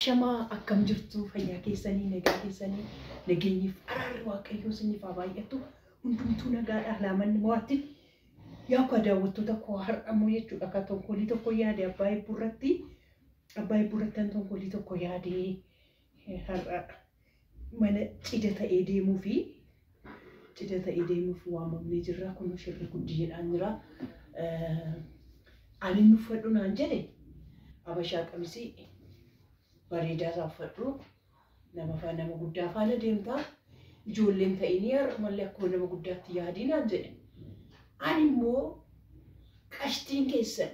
Shamaa akkam jirtu fayyaa keessanii nagaa keessanii nageenyiif araarri waaqayyoo isiniif haa baay'atu hundumtuu nagaadha laamanni mo'atti yaa akka daawwattoota koo har'ammoo jechuudha akka tonkolii tokko yaade abbaa eebbuu irratti abbaa eebbuu irratti kan tonkolii tokko yaade har'a Mana cida ta'ee deemuufi cida ta'ee deemuuf waamamnee jirra kunoo shirri guddi jedhaan jira ani hin uffadhu naan jedhe abashaa qamisii bareedaa isaa uffadhu nama faa nama guddaa faana deemta ijoolleen ta'inii har'umallee akkuma nama guddaatti yaadii naan jedhe ani immoo qashtiin keessan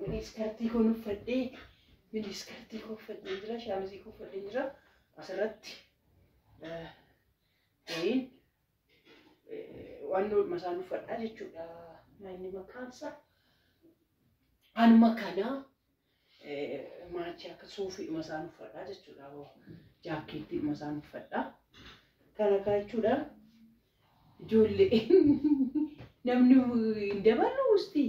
Miniskartii koon uffadhee miniskartii koo uffadhee jira shaamizii koo uffadhee jira asirratti wayiin waan doodhuma isaan uffadhaa jechuudha manni makaansa anuma kana maachi akka suufiidhuma isaan uffadhaa jechuudha jaakkeettiidhuma isaan uffadhaa kana kaa jechuudha ijoollee namni hin dabalu ustii.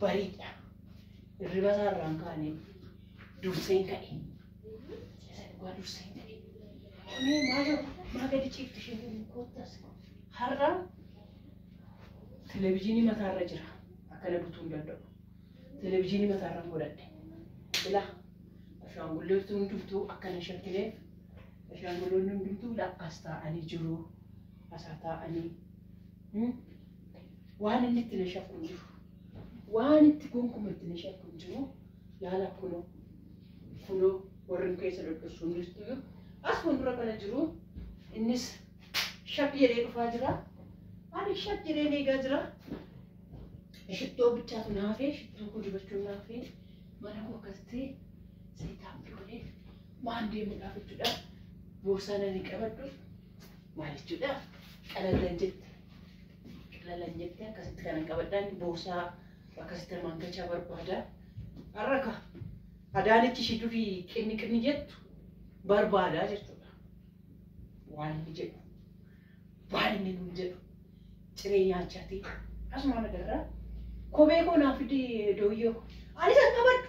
Bariidha. Hirriba isaa irraan kaaneen durseen ka'e. Isa dhugaa durseen ka'e. Mee maasha maa gadi ciifti isheen jedhu koottas. Har'a televizyiinii mataarra jira. Akkana butuu hin danda'u. Televizyiinii mataarra godhadhe. Ilaa ashaangulleetu hundumtuu akkana shakkineef ashaangulloonni hundumtuu akkas taa'anii jiru. Asaa taa'anii Waan inni itti na shakku hin jiru. Waan itti gonkuma itti na shakku hin jiru. Laala kunoo kunoo warreen keessa dhodhossu hundistuyyu as fuuldura kana jiru innis shak jedhee dhufaa jira. Ani shak jedhee eegaa jira. Shittoo bichaatu na hafee shittoo koo dibachuu na hafee mana koo akkasitti seetaappii godhee waan deemuudhaaf jechuudha. Boorsaa nani qabadhu. Maal jechuudha? Qalallan jette. Qalallan jette akkasitti kanan qabadhaan boorsaa akkasitti namaan gachaa barbaada. Har'a ka adaanichi ishii durii qinni qinni jettu barbaadaa jechuudha. Waan inni jedhu waan inni nuun jedhu ciree nyaachaatii asumaan agarraa kophee koo naaf fidee dooyyoo koo anis hin qabadhu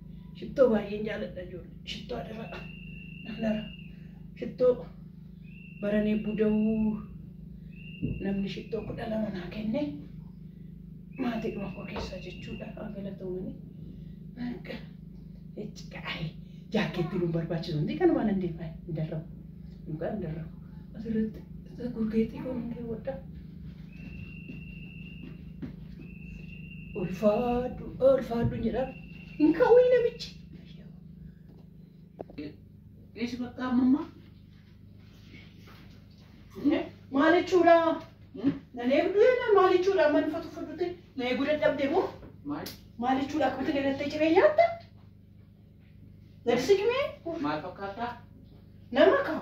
Shittoo baay'een jaaladha ijoollee. Shittoo adaraa namnara. Shittoo baranee buda'uu namni shittoo kudha lama naa kenne maatii dhuma koo keessaa jechuudha haa galatoomanii. Akka itti qaa'ee jaakkeetti nu barbaachisu hundi kanumaan hin deemaa hin darrabu. Mukaa hin darrabu. Asirratti isa gurgeetii koo hin daawwadha. Ulfaadhu ulfaadhu jedha. Hin ka'uyi namichi. Dhiisi bakka ammammaa. Maal jechuudha? Nan eegdu jennaan maal jechuudha? Amma nufa tuffadhutti na eeguu dadhabde moo? Maal? Maal jechuudha? Akkamitti na gattee ciree nyaatta? Na disigmee? Maal fakkaataa? Nama kaa?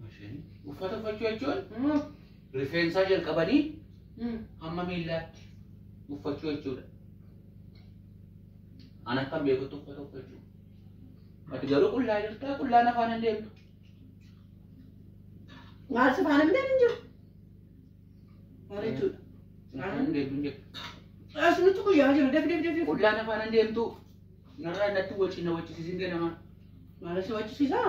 Maashanii. Uffata uffachuu jechuun Mm. rifeensaa jalqabanii Mm. hamma miillaatti uffachuu jechuudha. An akkan beekutti uffata uffachuu. Ati garuu qullaa jirtaa qullaan afaan hin deemtu. Maal si faana midhaan hin jiru? Maal jechuudha? Afaan hin deemtu hin jirtu. As nuti guyyaa jiru def def def def. Qullaan afaan hin deemtu. Narraa natti wacina wacisiisin ganamaa. Maal si wachisiisaa?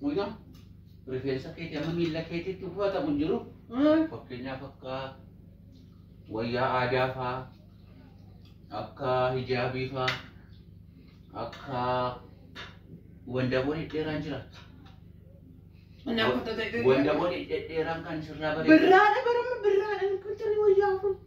Mucaa rifeensa keetii amma miila keetiitti uffatamu hin jiru. Fakkeenyaaf akka wayyaa aadaa faa, akka hijaabii faa, akka wandaboo dhedheeraan jira. Inni akka tata Wandaboo dhedheeraan kan sirraa bareedu. Birraadha barama birraadha kun tarii wayyaa kun.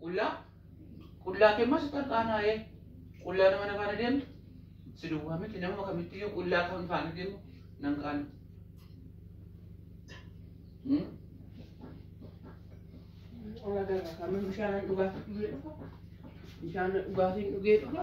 Qullaa qullaa kee masu tarqaanaa'ee qullaa nama na faana deemtu si duwwaa miti nama kamittiyyuu qullaa kan faana deemu nan qaanu. Hmm? Ala gara kama bishaan dhugaatii dhugee dhufa. Bishaan dhugaatiin dhugee dhufa.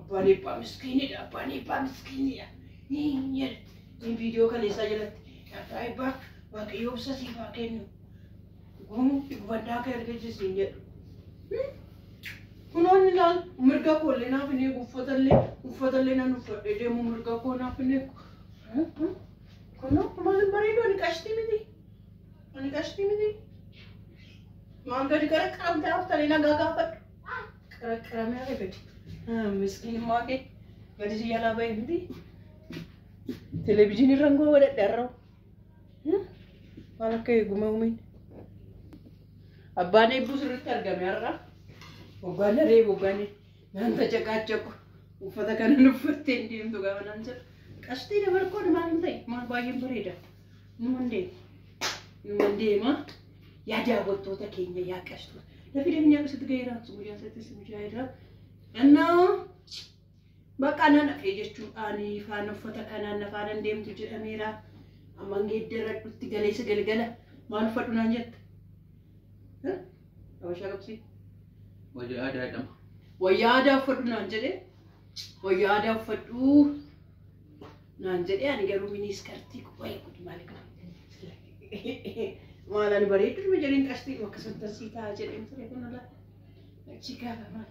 Abbaan eebbaa miskiinidha. Abbaan eebbaa miskiinidha. Hin jedhti. Hin viidiyoo kana isaa jalatti. Abbaa eebbaa waaqayyoo obsa siif haa kennu. Gumuu gubannaa kee argisiisi hin jedhu. Kunoon ilaal mirga koo illee naaf hin eegu uffata illee uffata illee nan uffadhee deemu mirga koo naaf hin eegu. Kunoo maal hin bareedu ani qashtii miti. Ani qashtii miti. Maal gadi gara qaamtee haftanii nagaa gaafadhu. Qaraqaramee akka gadi. Miskiinummaa kee gadi si jalaa ba'e miti. Televezyiinii irra ngoo godhadhe har'awu. Maal akka eegume uumiin. Abbaan eebbuu sirriitti argame har'a. Waggaan daree waggaan naan tacaqaacaqu. Uffata kanan uffattee hin deemtu gaafa naan jedhu. Qashtii dabarkoon maal hin ta'e maal baay'een bareeda. Numan deema. Numan deema. Yaa daawwattoota keenya yaa qashtu. Lafi deemnee akkasitti gaheera. Guyyaa isaattis guyyaa irraa. Annaa bakka nan hafee jechuudhaan faana uffata kanaan na faana hin deemtu jedhameera. Amma hin geeddaradhutti galeessa galgala maal uffadhu naan jette. Eh? Abashaa qabsii. Wayyaa aadaa jedhama. Wayyaa aadaa uffadhu naan jedhe. Wayyaa aadaa uffadhu. naan jedhee ani garuu minii iskartii wayi gud maal qaba maal ani bareeddu dhuma jedheen qashtii dhuma akkasumatti asii taa'aa jedheen ture kun ala achi gaafa maal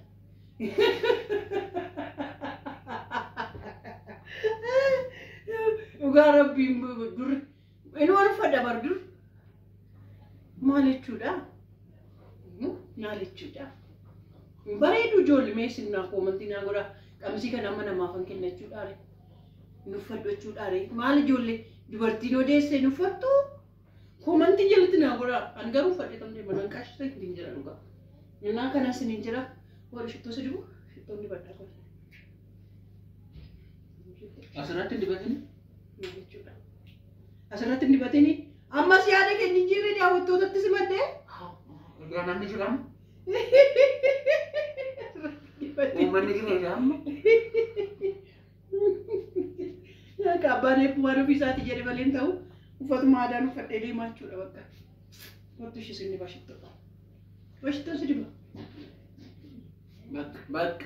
dhugaa rabbiin durri Inuu anufa dabar dur maal jechuudha? Maal jechuudha? Bareedu ijoolli mee isin naa koomantii naa godha qamisii kana amma namaafan kenna jechuudhaare nuffadhu jechuudhaare maal ijoollee dubartiin odeessee nuffattu koomantii jalatti naa godha an garuu uffadhee kan deema nan qaashisa hin jira dhugaa innaa kana isin hin jira warri shittoo si dibu shittoon dibadhaa kun. Asirratti hin dibatin. Kana jechuudha. Asirratti hin dibatini. Ammas yaada kee jijjiirree daawwattootatti simadde. Egaa namni jiran uummanni jira egaa amma. Akka abbaan eebbuu waan ofii isaati jedhe malee hin ta'u. Uffatuma aadaan uffadhee deemaa jechuudha bakka. Kottu ishee sinni bashittoo. Bashittoo si diba. Bakka bakka.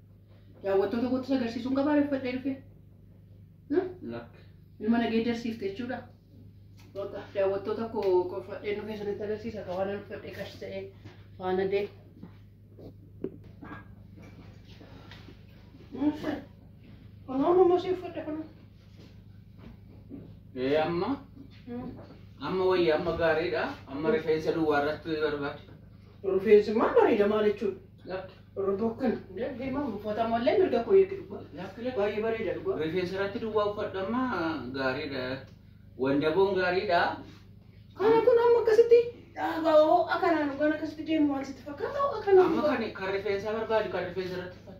Daawwattoota kootti isa agarsiisuun qabaa reeffadhee dhufe. Lakk. Ilma nageeddarsiifte jechuudha. Bakka daawwattoota koo qofadheen dhufee sanitti agarsiisa akka waan uffadhee qash ta'ee faana dee. Kunoo mammoo si uffadhe kunoo. Ee amma amma wayya amma gaariidha amma rifeensa duwwaa irratti barbaada. Rufeensi maal bareeda maal jechuudha? Lakki. Ruboo kana. Hundee deemaa uffata mallee mirga koo eegi dhugaa. Lakki lakki. Baay'ee bareeda dhugaa. Rifeensa irratti duwwaa uffadhamma gaariidha. Wandaboon gaariidha. Kana kun amma akkasitti dhaabaa hoo akkanaan dhugaan akkasitti deemu maal sitti fakkaata hoo akkanaan Amma dhugaa? kan kan rifeensaa barbaadu kan rifeensa irratti uffatu.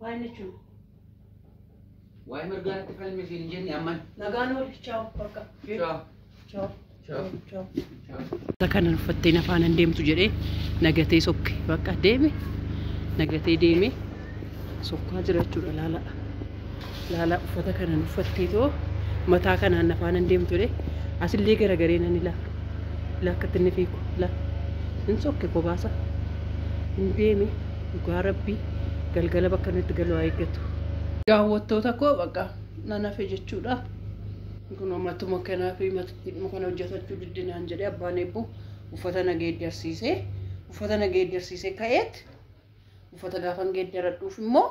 Waa'een jechuun. Waa'ee mirgaa irratti falmi siin hin jenne amman. Nagaan ooli. Chaaw. Bakka. Chaaw. Chaaw. Chaaw. Chaaw. Chaaw. Kanan uffattee na faana hin deemtu jedhee nagatee sokke bakka deeme nagatee deeme sokkaa jira jechuudha laala. Laalaa uffata kanan uffattee too mataa kanaan na faanan deemtule asillee garagaree nan ilaa ilaa akkatti inni fiigu ilaa hin sokke kobaasa hin deeme dhugaa rabbii galgala bakka inni itti galu haa eeggatu. Daawwattoota koo baqa nan hafe jechuudha. Kun matuma kanaa fi matittiidhuma kana hojjetachuu didde naan jedhee abbaan eebbuu uffata na geeddarsiisee uffata na geeddarsiisee ka'eet uffata gaafan geeddaradhuuf immoo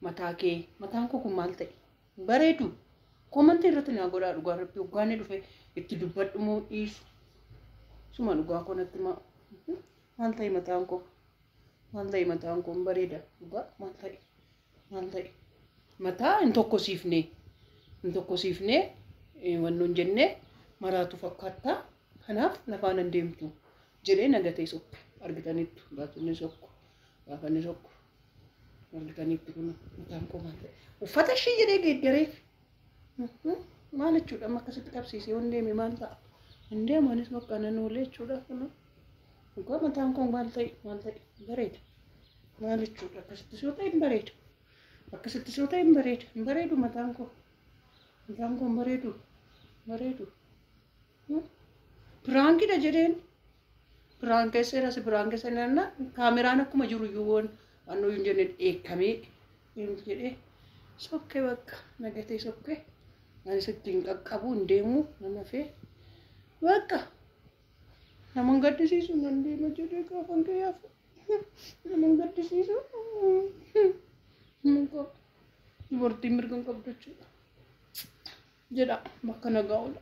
mataa kee mataan koo kun maal ta'e hin bareedu koomantii irratti naa godhaa dhugaa rabbi hoggaanni dhufe itti dubbadhu moo dhiisu suma dhugaa koo natti maa maal ta'e mataan koo maal ta'e mataan koo hin bareeda dhugaa maal ta'e maal ta'e mataa hin tokkosiifne hin tokkosiifne eh, wanni hin jenne maraatu fakkaata kanaaf nafaan hin deemtu jedhee nagatee sokke argitaniittu gaafinni sokko gaafanni sokko Walganiitti kun mataan koo maal ta'e? Uffata ishee jedhee geeddareef. Maal jechuudha amma akkasitti qabsiisee yoon deeme maal ta'a? Hin deemu anis bakka nan oolee jechuudha kun. Dhugaa mataan koo maal ta'e maal ta'e bareeda. Maal jechuudha akkasitti soo ta'e hin bareedu. Akkasitti soo ta'e hin bareedu. Hin bareedu mataan koo. Mataan koo hin bareedu. Hin bareedu. Piraankidha jedheen. Piraankeesseera si piraankeesseera nanna kaameraan akkuma jiru iyyuu waan waan nuyi hin jenne dheekkamee hin jedhee sokkee bakka nagatee sokkee ani sitti hin qaqqabu hin deemu nan hafee bakka nama hin gaddisiisu nan deema jedhee gaafa hin gayyaafu nama hin gaddisiisu dubartiin mirga hin qabdu jechuudha. jedha bakka nagaa oola.